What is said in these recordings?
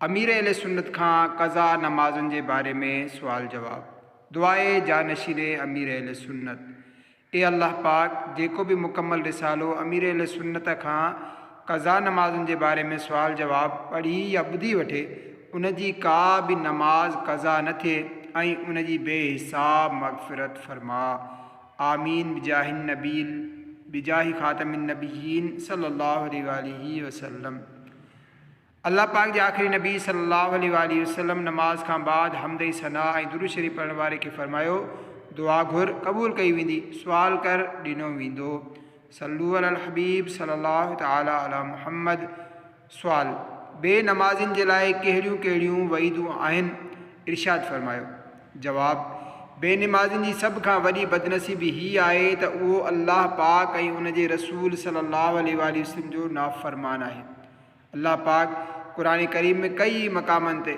امير اهل سنت کان قضا نمازن جي باري ۾ سوال جواب، دعائي جانشين امير اهل سنت، اي الله پاڪ! جيڪو به مڪمل رسالو امير اهل سنت کان قضا نمازن جي باري ۾ سوال جواب پڙهي يا ٻڌي وٺي، ان جي ڪا به نماز قضا نه ٿئي ۽ ان جي بي حساب مغفرت فرماء. آمين بجاه النبي بجاه خاتم النبيين صلي الله عليه وآله وسلم. الله پاڪ جي آخري نبي صلّي اللّٰه عليه واٰله وسلّم نماز کان بعد حمد ۽ ثنا ۽ درود شريف پڙهڻ واري کي فرمايو، دعا گهر، قبول ڪئي ويندي، سوال ڪر، ڏنو ويندو. صلّو علي الحبيب صلّي اللّٰه تعالٰي علي محمّد سوال، بي نمازين جي لاء ڪهڙيون ڪهڙيون وعيدون آهن؟ ارشاد فرمايو. جواب، بي نمازين جي سڀ کان وڏي بدنصيبي هي آهي ته اهو الله پاڪ ۽ ان جي رسول صلّي اللّٰه عليه واٰله وسلّم جو نافرمان آهي. الله پاڪ قرآن ڪريم ۾ ڪئي ئي مقامن تي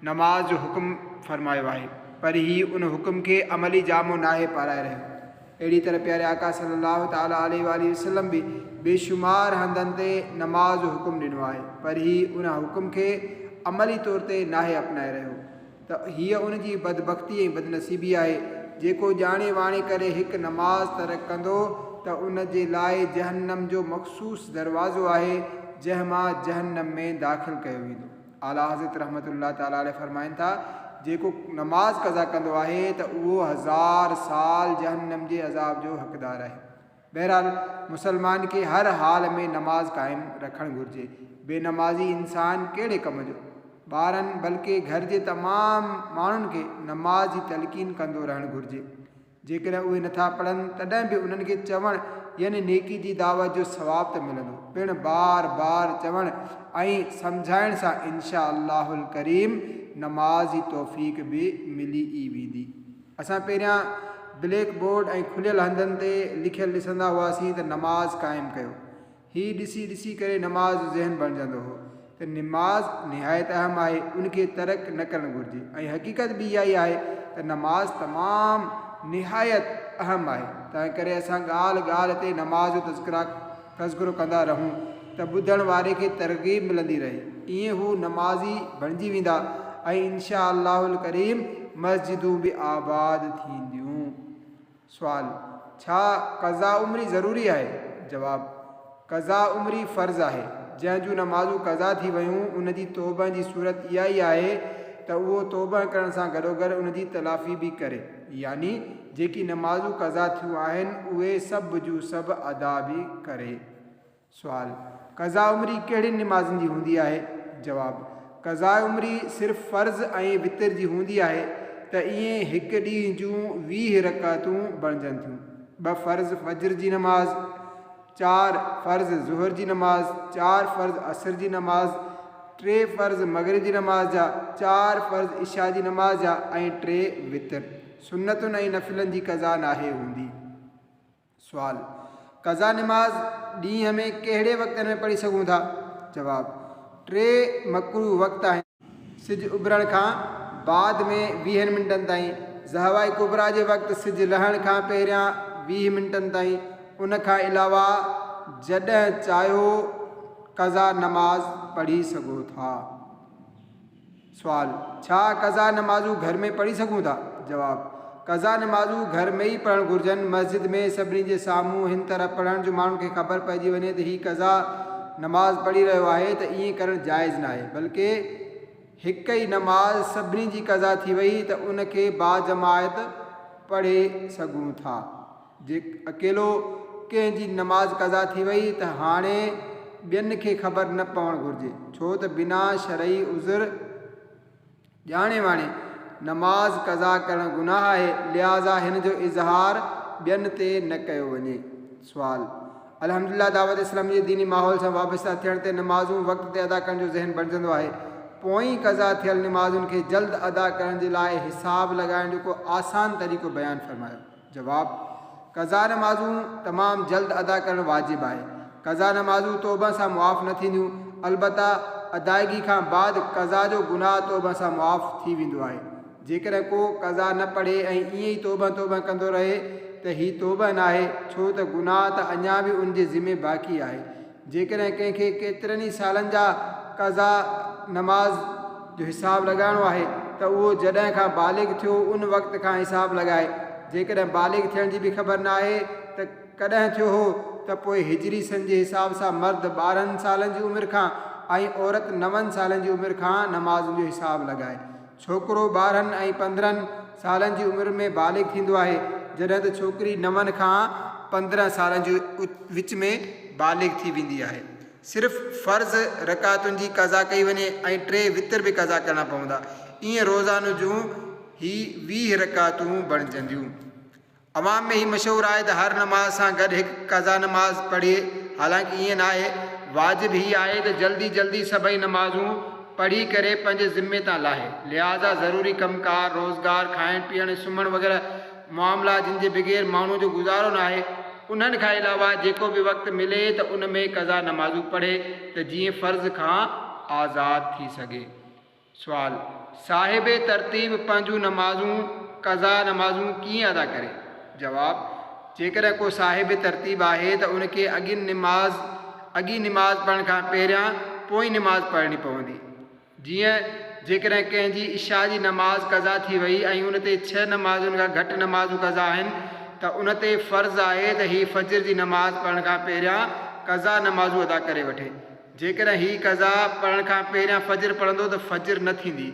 نماز جو حڪم فرمايو آهي پر هي ان حڪم کي عملي جامو ناهي پارائي رهيو. اهڙي طرح پياري آقا صلي الله تعالي عليه واٰله وسلم به بيشمار هنڌن تي نماز جو حڪم ڏنو آهي پر هي ان حڪم کي عملي طور تي ناهي اپنائي رهيو. ته هيء ان جي بدبختي ۽ بدنصيبي آهي، جيڪو ڄاڻي واڻي ڪري هڪ نماز ترڪ ڪندو ته ان جي لاء جهنم جو مخصوص دروازو آهي، جنهن مان جهنم ۾ داخل ڪيو ويندو. اعليٰ حضرت رحمة الله تعالٰي عليه فرمائن ٿا، جيڪو نماز قضا ڪندو آهي ته اهو هزار سال جهنم جي عذاب جو حقدار آهي. بهرحال مسلمان کي هر حال ۾ نماز قائم رکڻ گهرجي. بي نمازي انسان ڪهڙي ڪم جو. ٻارن بلڪه گهر جي تمام ماڻهن کي نماز جي تلقين ڪندو رهڻ گهرجي. جيڪڏهن اهي نٿا پڙهن تڏهن به انهن کي چوڻ يعني نيڪي جي دعوت جو ثواب ته ملندو پڻ بار بار چوڻ ۽ سمجهائڻ سان انشاء الله الڪريم نماز جي توفيق به ملي ئي ويندي. اسان پهريان بليڪ بورڊ ۽ کليل هنڌن تي لکيل ڏسندا هئاسين ته نماز قائم ڪيو. هي ڏسي ڏسي ڪري نماز جو ذهن بڻجندو هو ته نماز نهايت اهم آهي ان کي ترڪ نه ڪرڻ گهرجي ۽ حقيقت به اها ئي آهي ته نماز تمام نهايت اهم آهي تنهن ڪري اسان ڳالهه ڳالهه تي نماز جو تذڪره تذڪرو ڪندا رهون ته ٻڌڻ واري کي ترغيب ملندي رهي ائين هو نمازي بڻجي ويندا ۽ انشاء الله الڪريم مسجدون به آباد ٿينديون. سوال، ڇا قضا عمري ضروري آهي؟ جواب، قضا عمري فرض آهي، جنهن جون نمازون قضا ٿي ويون ان جي توبهن جي صورت اها ئي آهي ته اهو توبهن ڪرڻ سان گڏوگڏ ان جي تلافي به ڪري. يعني جيڪي نمازون قضا ٿيون آهن اهي سڀ جون سڀ ادا به ڪري. سوال، قضاء عمري ڪهڙين نمازن جي هوندي آهي؟ جواب، قضاء عمري صرف فرض ۽ وتر جي هوندي آهي ته ايئن هڪ ڏينهن جون ويهه رڪعتون بڻجن ٿيون، ٻه فرض فجر جي نماز، چار فرض ظهر جي نماز، چار فرض عصر جي نماز، ٽي فرض مغرب جي نماز جا، چار فرض عشاء جي نماز جا ۽ ٽي وتر. سنتن ۽ نفلن جي قضا ناهي هوندي. سوال، قضا نماز ڏينهن ۾ ڪهڙي وقتن ۾ پڙهي سگهون ٿا؟ جواب، ٽي مڪروه وقت آهن. سج اڀرڻ کان بعد ۾ ويهن منٽن تائين، زهوة ڪبريٰ جي وقت سج لهڻ کان پهريان ويهه منٽن تائين، ان کان علاوه جڏهن چاهيو قضا نماز پڙهي سگهو ٿا. سوال، ڇا قضا نمازون گهر ۾ پڙهي سگهون ٿا؟ جواب، قضا نمازون گهر ۾ ئي پڙهڻ گهرجن، مسجد ۾ سڀني جي سامهون هن طرح پڙهڻ جو ماڻهن کي خبر پئجي وڃي ته هي قضا نماز پڙهي رهيو آهي ته ائين ڪرڻ جائز ناهي بلڪه هڪ ئي نماز سڀني جي قضا ٿي وئي ته ان کي باجماعت پڙهي سگهون ٿا جي اڪيلو ڪنهن جي نماز قضا ٿي وئي ته هاڻي ٻين کي خبر نه پوڻ گهرجي ڇو ته بنا شرعي عذر ڄاڻي واڻي نماز قضا ڪرڻ گناهه آهي، لهٰذا هن جو اظهار ٻين تي نه ڪيو وڃي. سوال، الحمد لله دعوت اسلامي جي ديني ماحول سان وابسته ٿيڻ تي نمازون وقت تي ادا ڪرڻ جو ذهن بڻجندو آهي. پوئين قضا ٿيل نمازن کي جلد ادا ڪرڻ جي لاء حساب لڳائڻ جو ڪو آسان طريقو بيان فرمايو. جواب، قضا نمازون تمام جلد ادا ڪرڻ واجب آهي. قضا نمازون توبه سان معاف نه ٿينديون، البته ادائگي کان بعد قضا جو گناهه توبه سان معاف ٿي ويندو آهي. جيڪڏهن ڪو قضا نه پڙهي ۽ ائين ئي توبه توبه ڪندو رهي ته هي توبه ناهي، ڇو ته گناهه ته اڃا به ان جي ذمي باقي آهي. جيڪڏهن ڪنهن کي ڪيترن ئي سالن جا قضا نماز جو حساب لڳائڻو آهي ته اهو جڏهن کان بالغ ٿيو ان وقت کان حساب لڳائي، جيڪڏهن بالغ ٿيڻ جي به خبر ناهي ته ڪڏهن ٿيو هو ته پوء هجري سن جي حساب سان مرد ٻارهن سالن جي عمر کان ۽ عورت نون سالن جي عمر کان نمازن جو حساب لڳائي. ڇوڪرو ٻارهن ۽ پندرهن سالن جي عمر ۾ بالغ ٿيندو آهي، جڏهن ته ڇوڪري نون کان پندرهن سالن جي وچ ۾ بالغ ٿي ويندي آهي. صرف فرض رڪعتن جي قضا ڪئي وڃي ۽ ٽي وتر به قضا ڪرڻا پوندا. ايئن روزانو جون هي ويهه رڪعتون بڻجنديون. عوام ۾ هي مشهور آهي ته هر نماز سان گڏ هڪ قضا نماز پڙهي، حالانڪه ايئن ناهي، واجب هي آهي ته جلدي جلدي سڀئي نمازون پڙهي ڪري پنهنجي ذمي تان لاهي، لهٰذا ضروري ڪم ڪار، روزگار، کائڻ پيئڻ ۽ سمهڻ وغيره معاملا جن جي بغير ماڻهوء جو گذارو ناهي، انهن کان علاوه جيڪو به وقت ملي ته ان ۾ قضا نمازون پڙهي ته جيئن فرض کان آزاد ٿي سگهي. سوال، صاحب ترتيب پنهنجون نمازون، قضا نمازون، ڪيئن ادا ڪري؟ جواب، جيڪڏهن ڪو صاحب ترتيب آهي ته ان کي اڳين نماز اڳين نماز پڙهڻ کان پهريان پوئين نماز پڙهڻي پوندي. جيئن جيڪڏهن ڪنهن جي عشاء جي نماز قضا ٿي وئي ۽ ان تي ڇهه نمازن کان گهٽ نمازون قضا آهن ته ان تي فرض آهي ته هي فجر جي نماز پڙهڻ کان پهريان قضا نمازون ادا ڪري وٺي. جيڪڏهن هي قضا پڙهڻ کان پهريان فجر پڙهندو ته فجر نه ٿيندي،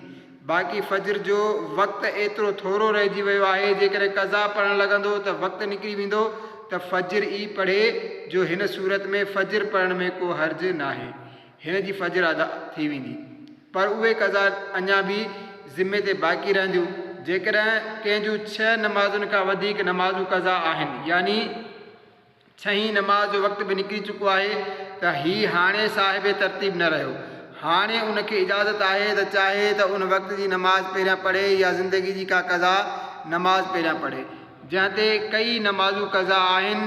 باقي فجر جو وقت ايترو ٿورو رهجي ويو آهي، جيڪڏهن قضا پڙهڻ لڳندو ته وقت نڪري ويندو ته فجر ئي پڙهي، جو هن صورت ۾ فجر پڙهڻ ۾ ڪو حرج ناهي، هن جي فجر ادا ٿي ويندي، پر اهي قضا اڃا به ذمي تي باقي رهنديون، جيڪڏهن ڪنهن جون ڇهه نمازن کان وڌيڪ نمازون قضا آهن، يعني. ڇهين نماز جو وقت به نڪري چڪو آهي ته هي هاڻي صاحب ترتيب نه رهيو. هاڻي ان کي اجازت آهي ته چاهي ته ان وقت جي نماز پهريان پڙهي يا زندگي جي ڪا قضا نماز پهريان پڙهي. جنهن تي ڪيئي نمازون قضا آهن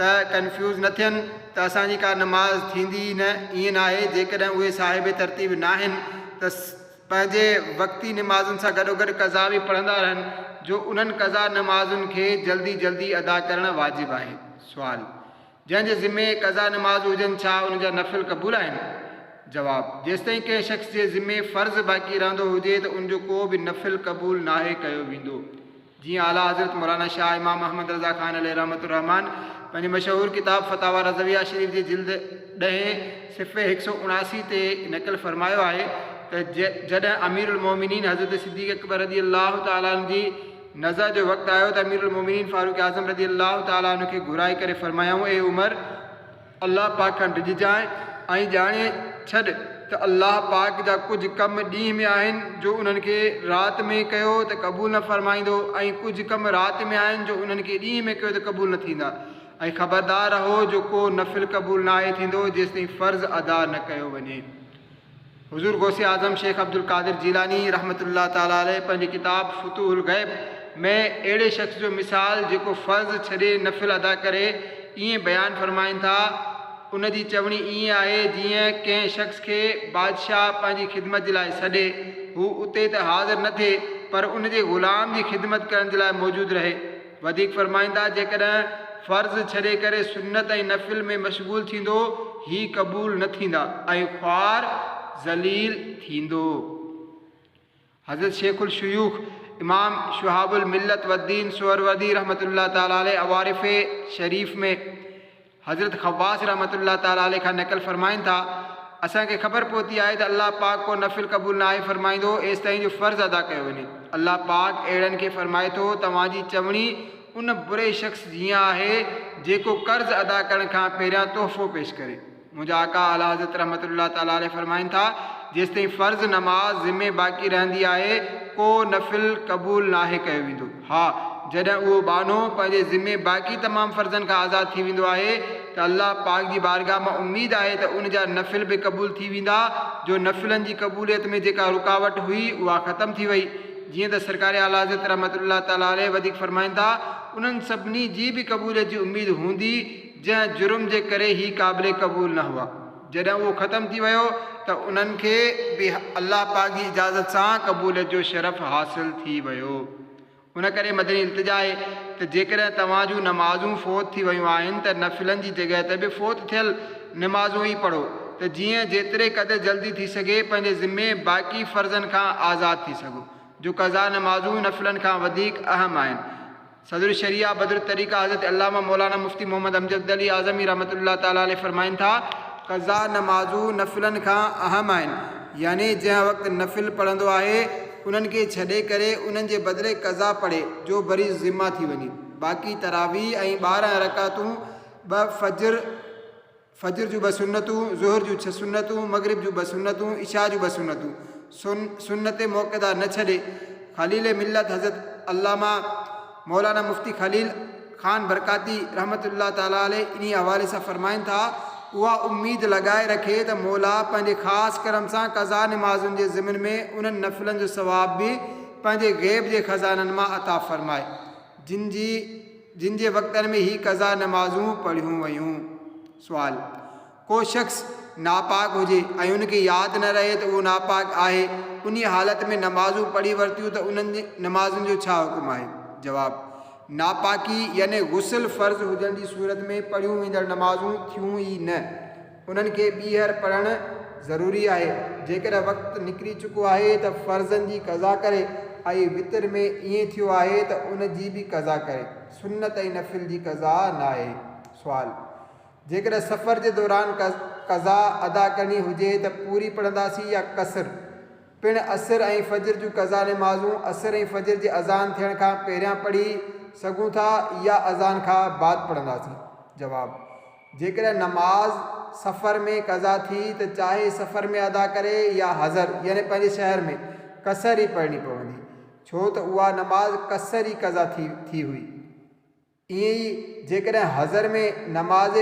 ته ڪنفيوز نه ٿين ته اسان جي ڪا نماز ٿيندي ئي نه، ائين ناهي جيڪڏهن اهي صاحب ترتيب ناهن ته. پنهنجي وقتي نمازن سان گڏوگڏ قضا به پڙهندا رهن جو انهن قضا نمازن کي جلدي جلدي ادا ڪرڻ واجب آهي. سوال، جنهن جي ذمي قضا نمازون هجن ڇا ان جا نفل قبول آهن؟ جواب، جيستائين ڪنهن شخص جي ذمي فرض باقي رهندو هجي ته ان جو ڪو به نفل قبول ناهي ڪيو ويندو. جيئن اعليٰ حضرت مولانا شاهه امام محمد رضا خان عليه رحمة الرحمان پنهنجي مشهور ڪتاب فتاويٰ رضويه شريف جي جلد ڏهين صفحي هڪ سؤ اڻاسي تي نقل فرمايو آهي ته جڏهن اميرالمؤمنين حضرت صديق اڪبر رضي الله تعالٰي عنه جي نزع جو وقت آيو ته اميرالمؤمنين فاروق اعظم رضي الله تعالٰي عنه کي گهرائي ڪري فرمايائون اي عمر! الله پاڪ کان ڊڄجانء ۽ ڄاڻي ڇڏ ته الله پاڪ جا ڪجهه ڪم ڏينهن ۾ آهن جو انهن کي رات ۾ ڪيو ته قبول نه فرمائيندو ۽ ڪجهه ڪم رات ۾ آهن جو انهن کي ڏينهن ۾ ڪيو ته قبول نه ٿيندا ۽ خبردار رهو جو ڪو نفل قبول ناهي ٿيندو جيستائين فرض ادا نه ڪيو وڃي. حضور غوث اعظم شيخ عبدالقادر جيلاني رحمة الله تعالٰي عليه پنهنجي ڪتاب فتوح الغيب ۾ اهڙي شخص جو مثال جيڪو فرض ڇڏي نفل ادا ڪري ائين بيان فرمائن ٿا، ان جي چوڻي ائين آهي جيئن ڪنهن شخص کي بادشاهه پنهنجي خدمت جي لاء سڏي، هو اتي ته حاضر نه ٿئي پر ان جي غلام جي خدمت ڪرڻ جي لاء موجود رهي. وڌيڪ فرمائيندا، جيڪڏهن فرض ڇڏي ڪري سنت ۽ نفل ۾ مشغول ٿيندو، هي قبول نه ٿيندا ۽ خوار ذليل ٿيندو. حضرت شيخ الشيوخ امام شهاب الملت والدين سهروردي رحمة الله تعالٰي عليه اوارفي شريف ۾ حضرت خواص رحمة الله تعالٰي عليه کان نقل فرمائن ٿا، اسان کي خبر پهتي آهي ته الله پاڪ ڪو نفل قبول ناهي فرمائيندو ايستائين جو فرض ادا ڪيو وڃي. الله پاڪ اهڙن کي فرمائي ٿو، توهان جي چوڻي ان بري شخص جيان آهي جيڪو قرض ادا ڪرڻ کان پهريان تحفو پيش ڪري. منهنجا آقا اعلٰي حضرت رحمة الله تعالٰي عليه فرمائن ٿا، جيستائين فرض نماز ذمي باقي رهندي آهي، ڪو نفل قبول ناهي ڪيو ويندو. ها، جڏهن اهو ٻانهو پنهنجي ذمي باقي تمام فرضن کان آزاد ٿي ويندو آهي ته الله پاڪ جي بارگاهه مان اميد آهي ته ان جا نفل به قبول ٿي ويندا جو نفلن جي قبوليت ۾ جيڪا رڪاوٽ هئي اها ختم ٿي وئي جيئن ته سرڪار اعليٰ حضرت رحمة الله تعالٰي عليه وڌيڪ فرمائن ٿا انهن سڀني جي به قبوليت جي اميد هوندي جنهن جرم جي ڪري هي قابل قبول نه هئا. جڏهن اهو ختم ٿي ويو ته انهن کي به الله پاڪ جي اجازت سان قبوليت جو شرف حاصل ٿي ويو. ان ڪري مدني التجا آهي ته جيڪڏهن توهان جون نمازون فوت ٿي ويون آهن ته نفلن جي جڳهه تي به فوت ٿيل نمازون ئي پڙهو ته جيئن جيتري قدر جلدي ٿي سگهي پنهنجي ذمي باقي فرضن کان آزاد ٿي سگهو جو قضا نمازون نفلن کان وڌيڪ اهم آهن. صدر الشريعه بدر الطريقه حضرت علامه مولانا مفتي محمد امجد علي اعظمي رحمة الله تعالٰي عليه فرمائن ٿا، قضا نمازون نفلن کان اهم آهن، يعني جنهن وقت نفل پڙهندو آهي، انهن کي ڇڏي ڪري انهن جي بدلي قضا پڙهي، جو بري ذمه ٿي وڃي. باقي تراويح ۽ ٻارهن رڪعتون ٻه فجر، فجر جون ٻه سنتون، ظهر جون ڇهه سنتون، مغرب جون ٻه سنتون، عشاء جون ٻه سنتون، سن، سنت مؤڪده نه ڇڏي، خليل ملت حضرت علامه مولانا مفتي خليل خان برڪاتي رحمة الله تعالٰي عليه انهيء حوالي سان فرمائن ٿا، اها اميد لڳائي رکي ته مولا پنهنجي خاص ڪرم سان قضا نمازن جي ضمن ۾ انهن نفلن جو ثواب به پنهنجي غيب جي خزانن مان عطا فرمائي، جن جي. جن جي وقتن ۾ هي قضا نمازون پڙهيون ويون. سوال، ڪو شخص ناپاڪ هجي ۽ ان کي ياد نه رهي ته اهو ناپاڪ آهي، انهيء حالت ۾ نمازون پڙهي ورتيون ته انهن نمازن جو ڇا حڪم آهي؟ جواب، ناپاڪي يعني غسل فرض هجڻ جي صورت ۾ پڙهيون ويندڙ نمازون ٿيون ئي نه، انهن کي ٻيهر پڙهڻ ضروري آهي. جيڪڏهن وقت نڪري چڪو آهي ته فرضن جي قضا ڪري ۽ وتر ۾ ائين ٿيو آهي ته ان جي به قضا ڪري. سنت ۽ نفل جي قضا ناهي. سوال، جيڪڏهن سفر جي دوران قضا ادا ڪرڻي هجي ته پوري پڙهنداسين يا قصر؟ پڻ عصر ۽ فجر جون قضا نمازون عصر ۽ فجر جي اذان ٿيڻ کان پهريان پڙهي سگهون ٿا يا اذان کان بعد پڙهنداسين؟ جواب، جيڪڏهن نماز سفر ۾ قضا ٿي ته چاهي سفر ۾ ادا ڪري يا حضر يعني پنهنجي شهر ۾، قصر ئي پڙهڻي پوندي، ڇو ته اها نماز قصر ئي قضا ٿي ٿي هئي. ائين ئي جيڪڏهن حضر ۾ نماز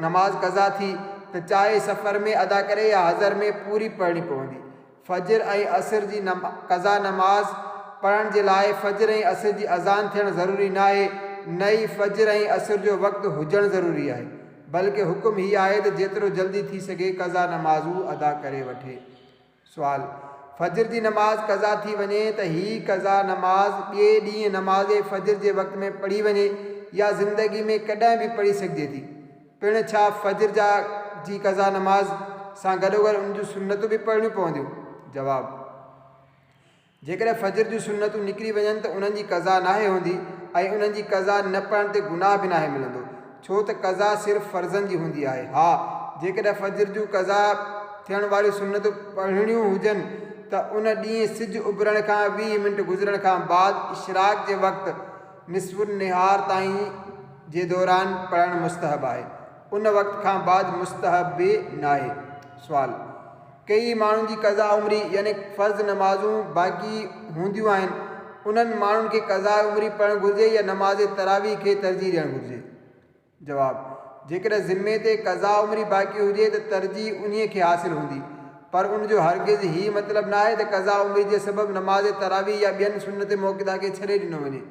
نماز قضا ٿي ته چاهي سفر ۾ ادا ڪري يا حضر ۾ پوري پڙهڻي پوندي. فجر ۽ عصر جي قضا نماز پڙهڻ جي لاء فجر ۽ عصر جي اذان ٿيڻ ضروري ناهي، نه ئي فجر ۽ عصر جو وقت هجڻ ضروري آهي، بلڪه حڪم هي آهي ته جيترو جلدي ٿي سگهي قضا نمازون ادا ڪري وٺي. سوال، فجر جي نماز قضا ٿي وڃي ته هي قضا نماز ٻئي ڏينهن نماز فجر جي وقت ۾ پڙهي وڃي يا زندگي ۾ ڪڏهن به پڙهي سگهجي ٿي؟ پڻ ڇا فجر جا جي قضا نماز سان گڏوگڏ ان جون سنتون به پڙهڻيون پونديون؟ جواب، جيڪڏهن فجر جون سنتون نڪري وڃن ته انهن جي قضا ناهي هوندي ۽ انهن جي قضا نه پڙهڻ تي گناهه به ناهي ملندو ڇو ته قضا صرف فرضن جي هوندي آهي ها جيڪڏهن فجر جون قضا ٿيڻ واريون سنتون پڙهڻيون هجن ته ان ڏينهن سج اڀرڻ کان ويهه منٽ گذرڻ کان بعد اشراق جي وقت نصف النهار تائين جي دوران پڙهڻ مستحب آهي. ان وقت کان بعد مستحب به ناهي. سوال، ڪيئي ماڻهن جي قضاء عمري يعني فرض نمازون باقي هونديون آهن انهن ماڻهن کي قضاء عمري پڙهڻ گهرجي يا نماز تراويح کي ترجيح ڏيڻ گهرجي؟ جواب، جيڪڏهن ذمي تي قضاء عمري باقي هجي ته ترجيح انهيء کي حاصل هوندي، پر ان جو هرگز هي مطلب ناهي ته قضاء عمري جي سبب نماز تراويح يا ٻين سنت موقته کي ڇڏي ڏنو وڃي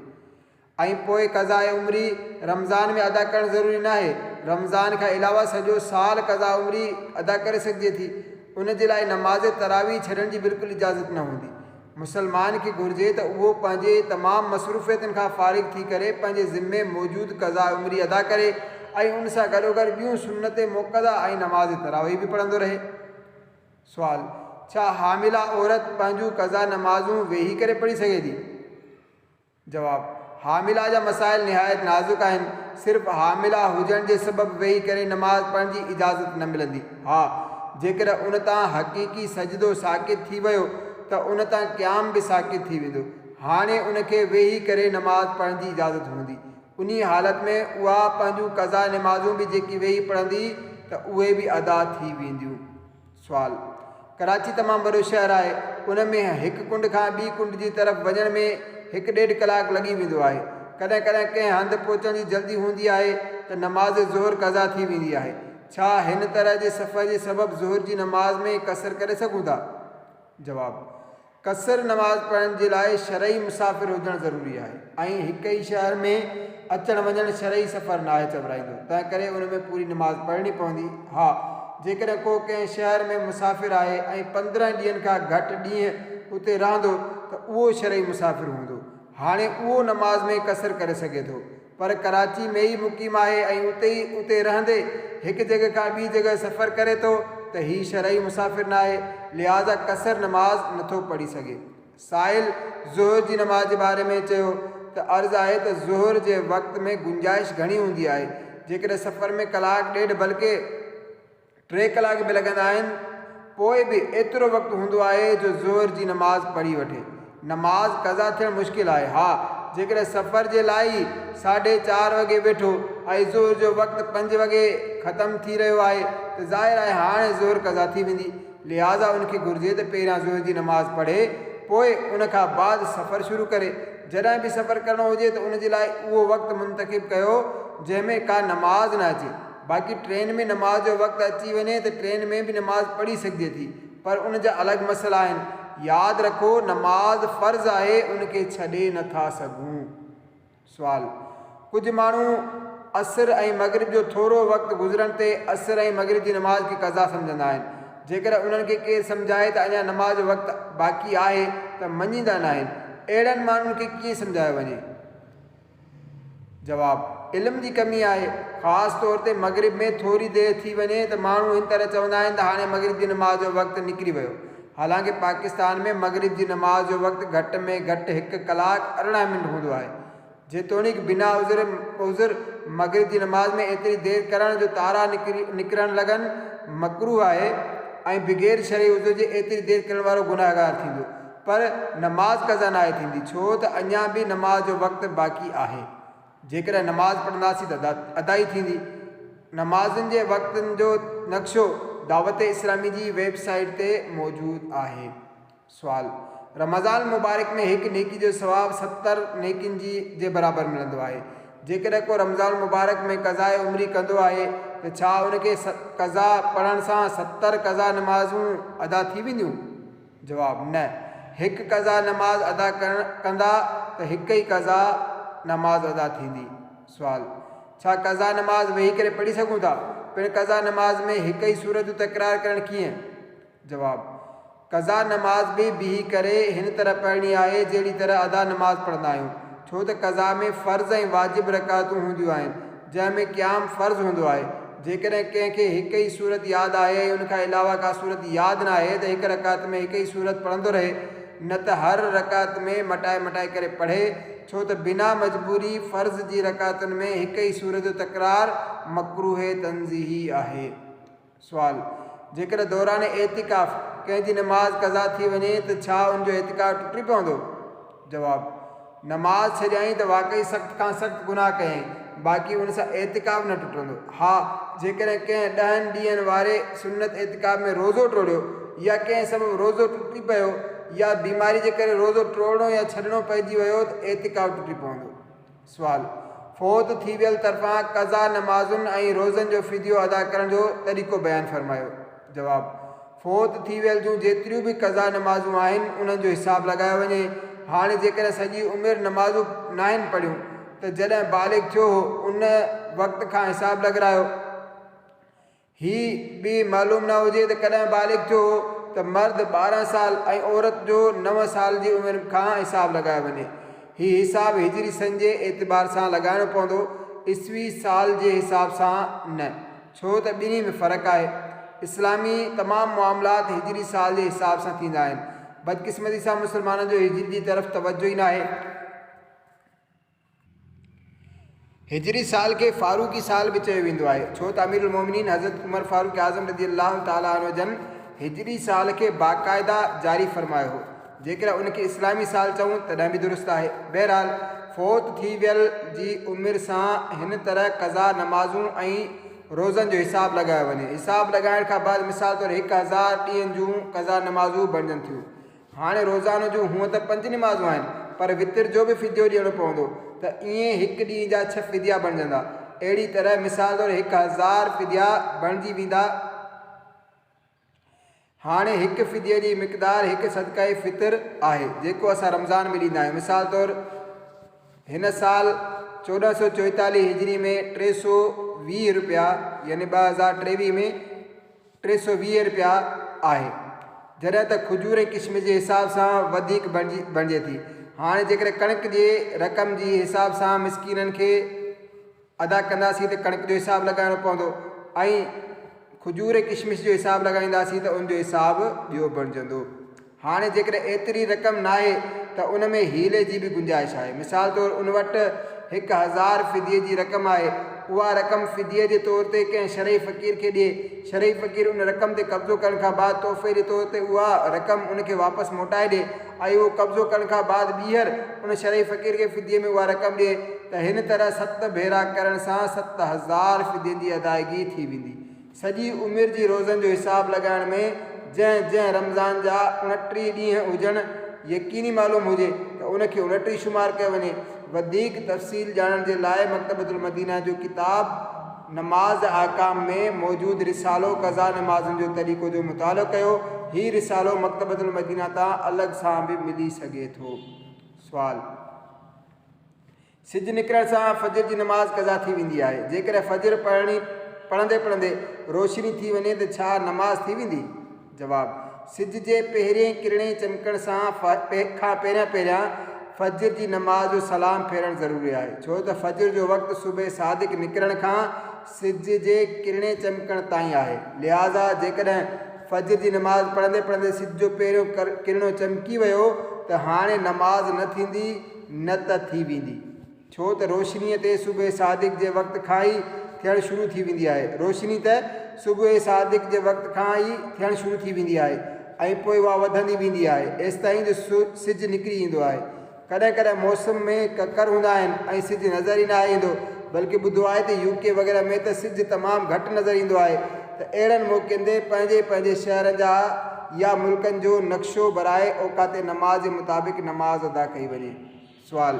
۽ پوء قضاء عمري رمضان ۾ ادا ڪرڻ ضروري ناهي، رمضان کان علاوه سڄو سال قضاء عمري ادا ڪري سگهجي ٿي، ان جي لاء نماز تراويح ڇڏڻ جي بلڪل اجازت نه هوندي. مسلمان کي گهرجي ته اهو پنهنجي تمام مصروفيتن کان فارغ ٿي ڪري پنهنجي ذمي موجود قضاء عمري ادا ڪري ۽ ان سان گڏوگڏ ٻيون سنت موقظه ۽ نماز تراويح به پڙهندو رهي. سوال، ڇا حامله عورت پنهنجون قضا نمازون ويهي ڪري پڙهي سگهي ٿي؟ جواب، حامله جا مسائل نهايت نازڪ آهن، صرف حامله هجڻ جي سبب ويهي ڪري نماز پڙهڻ جي اجازت نه ملندي، ها جيڪڏهن ان تان حقيقي سجدو ساقط ٿي ويو ته ان تان قيام به ساقط ٿي ويندو، هاڻي ان کي ويهي ڪري نماز پڙهڻ جي اجازت هوندي، انهي حالت ۾ اها پنهنجون قضا نمازون به جيڪي ويهي پڙهندي ته اهي به ادا ٿي وينديون. سوال، ڪراچي تمام وڏو شهر آهي، ان ۾ هڪ ڪنڊ کان ٻي ڪنڊ جي طرف وڃڻ ۾ هڪ ڏيڍ ڪلاڪ لڳي ويندو آهي، ڪڏهن ڪڏهن ڪنهن هنڌ پهچڻ جي جلدي هوندي آهي ته نماز ظهر قضا ٿي ويندي آهي، ڇا هن طرح جي سفر جي سبب ظهر جي نماز ۾ ڪسر ڪري سگهون ٿا؟ جواب، قصر نماز پڙهڻ جي لاء شرعي مسافر هجڻ ضروري آهي ۽ هڪ ئي شهر ۾ اچڻ وڃڻ شرعي سفر ناهي چورائيندو تنهنڪري ان ۾ پوري نماز پڙهڻي پوندي ها جيڪڏهن ڪو ڪنهن شهر ۾ مسافر آهي ۽ پندرهن ڏينهن کان گهٽ ڏينهن اتي رهندو ته اهو شرعي مسافر هوندو هاڻي اهو نماز ۾ قصر ڪري سگهي ٿو پر ڪراچي ۾ ئي مقيم آهي ۽ اتي ئي اتي رهندي هڪ جڳهه کان ٻي جڳهه سفر ڪري ٿو ته هي شرعي مسافر ناهي لهٰذا قصر نماز نٿو پڙهي سگهي. سائل ظهر جي نماز جي باري ۾ چيو ته عرض آهي ته ظهر جي وقت ۾ گنجائش گهڻي هوندي آهي جيڪڏهن سفر ۾ ڪلاڪ ڏيڍ بلڪه. ٽي ڪلاڪ به لڳندا آهن، پوء به ايترو وقت هوندو آهي جو ظهر جي نماز پڙهي وٺي. نماز قضا ٿيڻ مشڪل آهي. ها، جيڪڏهن سفر جي لاء ئي ساڍي چار وڳي ويٺو ۽ ظهر جو وقت پنج وڳي ختم ٿي رهيو آهي ته ظاهر آهي هاڻي ظهر قضا ٿي ويندي، لهٰذا ان کي گهرجي ته پهريان ظهر جي نماز پڙهي، پوء ان کان بعد سفر شروع ڪري. جڏهن به سفر ڪرڻو هجي ته ان جي لاء اهو وقت منتخب ڪيو جنهن ۾ ڪا نماز نه اچي. باقي ٽرين ۾ نماز جو وقت اچي وڃي ته ٽرين ۾ به نماز پڙهي سگهجي ٿي پر ان جا الڳ مسئلا آهن. ياد رکو نماز فرض آهي ان کي ڇڏي نه ٿا سگهون. سوال، ڪجهه ماڻهو عصر ۽ مغرب جو ٿورو وقت گذرڻ تي عصر ۽ مغرب جي نماز کي قضا سمجهندا آهن جيڪڏهن انهن کي ڪير سمجهائي ته اڃا نماز جو وقت باقي آهي ته مڃيندا ناهن اهڙن ماڻهن کي ڪيئن سمجهايو وڃي؟ جواب، علم جي ڪمي آهي، خاص طور تي مغرب ۾ ٿوري دير ٿي وڃي ته ماڻهو هن طرح چوندا آهن ته هاڻي مغرب جي نماز جو وقت نڪري ويو، حالانڪه پاڪستان ۾ مغرب جي نماز جو وقت گهٽ ۾ گهٽ هڪ ڪلاڪ ارڙهن منٽ هوندو آهي، جيتوڻيڪ بنا عذر عذر مغرب جي نماز ۾ ايتري دير ڪرڻ جو تارا نڪرڻ لڳن مڪروه آهي ۽ بغير شرعي عذر جي ايتري دير ڪرڻ وارو گنهگار ٿيندو. پر نماز قضا ناهي ٿيندي ڇو ته اڃا به نماز جو وقت باقي آهي. جيڪڏهن نماز پڙهنداسين ته ادائي ٿيندي. نمازن جي وقتن جو نقشو دعوت اسلامي جي ويب سائيٽ تي موجود آهي. سوال، رمضان المبارڪ ۾ هڪ نيڪي جو ثواب ستر نيڪين جي جي برابر ملندو آهي. جيڪڏهن ڪو رمضان المبارڪ ۾ قضاء عمري ڪندو آهي ته ڇا ان کي قضا پڙهڻ سان ستر قضا نمازون ادا ٿي وينديون؟ جواب، نه. هڪ قضا نماز ادا ڪرڻ ڪندا ته هڪ ئي قضا نماز ادا ٿيندي. سوال، ڇا قضا نماز ويهي ڪري پڙهي سگهون ٿا؟ پڻ قضا نماز ۾ هڪ ئي سورت تڪرار ڪرڻ ڪيئن؟ جواب، قضا نماز به بيهي ڪري هن طرح پڙهڻي آهي جهڙي طرح ادا نماز پڙهندا آهيون ڇو ته قضا ۾ فرض ۽ واجب رڪعتون هونديون آهن جنهن ۾ قيام فرض هوندو آهي. جيڪڏهن ڪنهن کي هڪ ئي سورت ياد آهي ۽ ان کان علاوه ڪا سورت ياد نه آهي ته هڪ رڪعت ۾ هڪ ئي سورت پڙهندو رهي نه ته هر رڪعت ۾ مٽائي مٽائي ڪري پڙهي ڇو ته بنا مجبوري فرض جي رڪعتن ۾ هڪ ئي سورت جو تڪرار مڪروه تنزيهي آهي. سوال، جيڪڏهن دوران اعتڪاف ڪنهن جي نماز قضا ٿي وڃي ته ڇا ان جو اعتڪاف ٽٽي پوندو؟ جواب، نماز ڇڏيائين ته واقعي سخت کان سخت گناهه ڪيائين، باقي ان سان اعتڪاف نه ٽٽندو. ها جيڪڏهن ڪنهن ڏهن ڏينهن واري سنت اعتڪاف ۾ روزو ٽوڙيو يا ڪنهن سبب روزو ٽٽي پيو يا بيماري جي ڪري روزو ٽوڙڻو يا ڇڏڻو پئجي ويو ته اعتڪاف ٽٽي پوندو. سوال، فوت ٿي ويل طرفان قضا نمازن ۽ روزن جو فديو ادا ڪرڻ جو طريقو بيان فرمايو. جواب، فوت ٿي ويل جون جيتريون به قضا نمازون آهن انهن جو حساب لڳايو وڃي، هاڻي جيڪڏهن سڄي عمر نمازون ناهن پڙهيون ته جڏهن بالغ ٿيو هو ان وقت کان حساب لڳرايو، هي به معلوم نه هجي ته ڪڏهن بالغ ٿيو هو ته مرد ٻارهن سال ۽ عورت جو نو سال جي عمر کان حساب لڳايو وڃي. هي حساب هجري سن جي اعتبار سان لڳائڻو پوندو، عيسوي سال جي حساب سان نه، ڇو ته ٻنهي ۾ فرق آهي. اسلامي تمام معاملات هجري سال جي حساب سان ٿيندا آهن. بدقسمتي سان مسلمانن جو هجري جي طرف توجه ئي ناهي. هجري سال کي فاروقي سال به چيو ويندو آهي، ڇو ته امير المومنين حضرت عمر فاروق اعظم رضي الله تعالٰي عنه جن هجري سال کي باقاعده جاري فرمايو هو. جيڪڏهن ان کي اسلامي سال چئون تڏهن به درست آهي. بهرحال، فوت ٿي ويل جي عمر سان هن طرح قضا نمازون ۽ روزن جو حساب لڳايو وڃي. حساب لڳائڻ کان بعد مثال طور هڪ هزار ڏينهن جون قضا نمازون بڻجن ٿيون. هاڻي روزانو جون هونء ته پنج نمازون آهن پر وتر جو به فديو ڏيڻو پوندو ته ائين هڪ ڏينهن جا ڇهه فديا بڻجندا. اهڙي طرح مثال طور هڪ هزار فديا بڻجي ويندا. هاڻي هڪ فديي جي مقدار هڪ صدقه فطر آهي جيڪو اسان رمضان ۾ ڏيندا آهيون. مثال طور هن سال چوڏهن سؤ چوئيتاليهه هجري ۾ ٽي سؤ ويهه روپيا يعني ٻه هزار ٽيويهه ۾ ٽي سؤ ويهه رپيا آهي جڏهن ته کجور ۽ ڪشمش جي حساب سان وڌيڪ بڻجي ٿي هاڻي جيڪڏهن ڪڻڪ جي رقم جي حساب سان مسڪينن کي ادا ڪنداسين ته ڪڻڪ جو حساب لڳائڻو پوندو ۽ کجور ۽ ڪشمش جو حساب لڳائينداسين ته ان جو حساب ٻيو بڻجندو. هاڻي جيڪڏهن ايتري رقم ناهي ته ان ۾ حيلي جي به گنجائش آهي. مثال طور ان وٽ هڪ هزار فديي جي رقم آهي، اها رقم فديي جي طور تي ڪنهن شرعي فقير کي ڏئي، شرعي فقير ان رقم تي قبضو ڪرڻ کان بعد تحفي جي طور تي اها رقم ان کي واپس موٽائي ڏئي ۽ اهو قبضو ڪرڻ کان بعد ٻيهر ان شرعي فقير کي فديي ۾ اها رقم ڏئي ته هن طرح ست ڀيرا ڪرڻ سان ست هزار فدين جي ادائيگي ٿي ويندي. سڄي عمر جي روزن جو حساب لڳائڻ ۾ جنهن جنهن رمضان جا اڻٽيهه ڏينهن هجڻ يقيني معلوم هجي ته ان کي اڻٽيهه شمار ڪيو وڃي. وڌيڪ تفصيل ڄاڻڻ جي لاء مڪتبة المدينه جو ڪتاب نماز احڪام ۾ موجود رسالو قضا نمازن جو طريقو جو مطالعو ڪيو. هي رسالو مڪتبة المدينه تان الڳ سان به ملي سگهي ٿو. سوال، سج نڪرڻ سان فجر جي نماز قضا ٿي ويندي آهي. جيڪڏهن فجر پڙهڻي پڙهندي پڙهندي روشني ٿي وڃي ته ڇا نماز ٿي ويندي؟ جواب، سج جي پهرين ڪرڻي چمڪڻ سان کان پهريان پهريان فجر جي نماز جو سلام ڦيرڻ ضروري آهي ڇو ته فجر جو وقت صبح صادق نڪرڻ کان سج جي ڪرڻي چمڪڻ تائين آهي لهٰذا جيڪڏهن فجر جي نماز پڙهندي پڙهندي سج جو پهريون ڪرڻو چمڪي ويو ته هاڻي نماز نه ٿيندي نه ته ٿي ويندي. ڇو ته روشنيء تي صبح صادق جي وقت کان ئي ٿيڻ شروع ٿي ويندي آهي. روشني ته صبح صادق جي وقت کان ئي ٿيڻ شروع ٿي ويندي آهي ۽ پوء اها وڌندي ويندي آهي، ايستائين جو سج نڪري ايندو آهي. ڪڏهن ڪڏهن موسم ۾ ڪڪر هوندا آهن ۽ سج نظر ئي ناهي ايندو، بلڪ ٻڌو آهي ته يو ڪي وغيره ۾ ته سج تمام گهٽ نظر ايندو آهي ته اهڙن موقعن تي پنهنجي پنهنجي شهرن جا يا ملڪن جو نقشو برائي اوقات نماز جي مطابق نماز ادا ڪئي وڃي. سوال،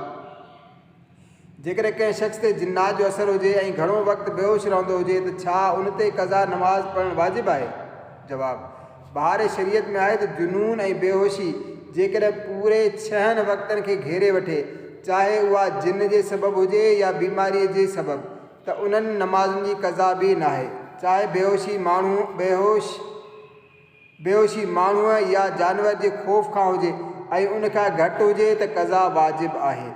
جيڪڏهن ڪنهن شخص تي جنات جو اثر هجي ۽ گهڻو وقت بيهوش رهندو هجي ته ڇا ان تي قضا نماز پڙهڻ واجب آهي؟ جواب، بهار شريعت ۾ آهي ته جنون ۽ بيهوشي جيڪڏهن پوري ڇهن وقتن کي گهيري وٺي چاهي اها جن جي سبب هجي يا بيماري جي سبب ته انهن نمازن جي قضا به ناهي چاهي بيهوشي ماڻهو بيهوش بيهوشي ماڻهوء يا جانور جي خوف کان هجي ۽ ان کان گهٽ هجي ته قضا واجب آهي.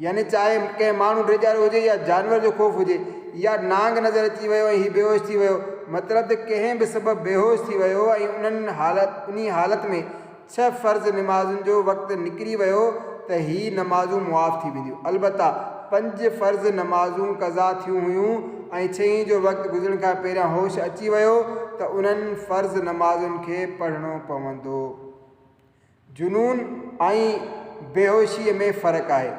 يعني چاهي ڪنهن ماڻهو ڊيڄارو هجي يا جانور جو خوف هجي يا نانگ نظر اچي ويو ۽ هي بيهوش ٿي ويو مطلب ته ڪنهن به سبب بيهوش ٿي ويو ۽ انهي حالت ۾ ڇهه فرض نمازن جو وقت نڪري ويو ته هي نمازون معاف ٿي وينديون. البته پنج فرض نمازون قضا ٿيون هيون ۽ ڇهين جو وقت گذرڻ کان پهريان هوش اچي ويو ته انهن فرض نمازن کي پڙهڻو پوندو. جنون ۽ بيهوشيء ۾ فرق آهي.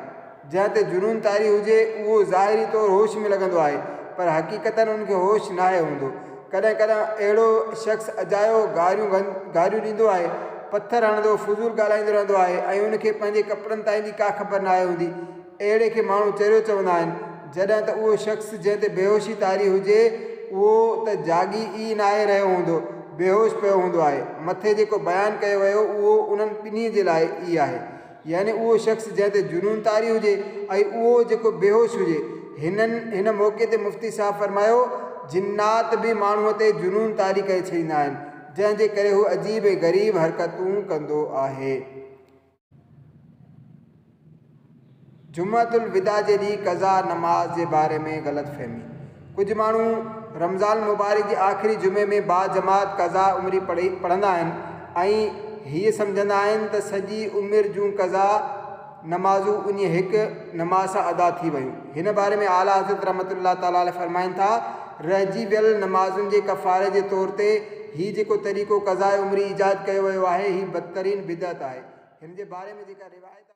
جنهن تي جنون طاري هجي، اهو ظاهري طور هوش ۾ لڳندو آهي، پر حقيقتاً ان کي هوش ناهي هوندو. ڪڏهن ڪڏهن اهڙو شخص اجايو گاريون گاريون ڏيندو آهي، پٿر هڻندو، فضول ڳالهائيندو رهندو آهي ۽ ان کي پنهنجي ڪپڙن تائين جي ڪا خبر ناهي هوندي. اهڙي کي ماڻهو چريو چوندا آهن. جڏهن ته اهو شخص جنهن تي بيهوشي طاري هجي، اهو ته جاڳي ئي ناهي رهيو هوندو، بيهوش پيو هوندو آهي. مٿي جيڪو بيان ڪيو ويو، اهو انهن ٻنهي جي لاء ئي آهي. يعني اهو شخص جنهن تي جنون طاري هجي ۽ اهو جيڪو بيهوش هجي. هنن هن موقعي تي مفتي صاحب فرمايو، جنات به ماڻهوء تي جنون طاري ڪري ڇڏيندا آهن، جنهن جي ڪري هو عجيب ۽ غريب حرڪتون ڪندو آهي. جمعة الوداع جي ڏينهن قضا نماز جي باري ۾ غلط فهمي. ڪجهه ماڻهو رمضان المبارڪ جي آخري جمعي ۾ باجماعت قضا عمري پڙهي پڙهندا آهن ۽ هيء سمجهندا آهن ته سڄي عمر جون قضا نمازون انهيء هڪ نماز سان ادا ٿي ويون. هن باري ۾ اعليٰ حضرت رحمة الله تعالٰي عليه فرمائن ٿا، رهجي ويل نمازن جي ڪفاري جي طور تي هي جيڪو طريقو قضاء عمري ايجاد ڪيو ويو آهي، هي بدترين بدعت آهي. هن جي باري ۾ جيڪا روايت آهي.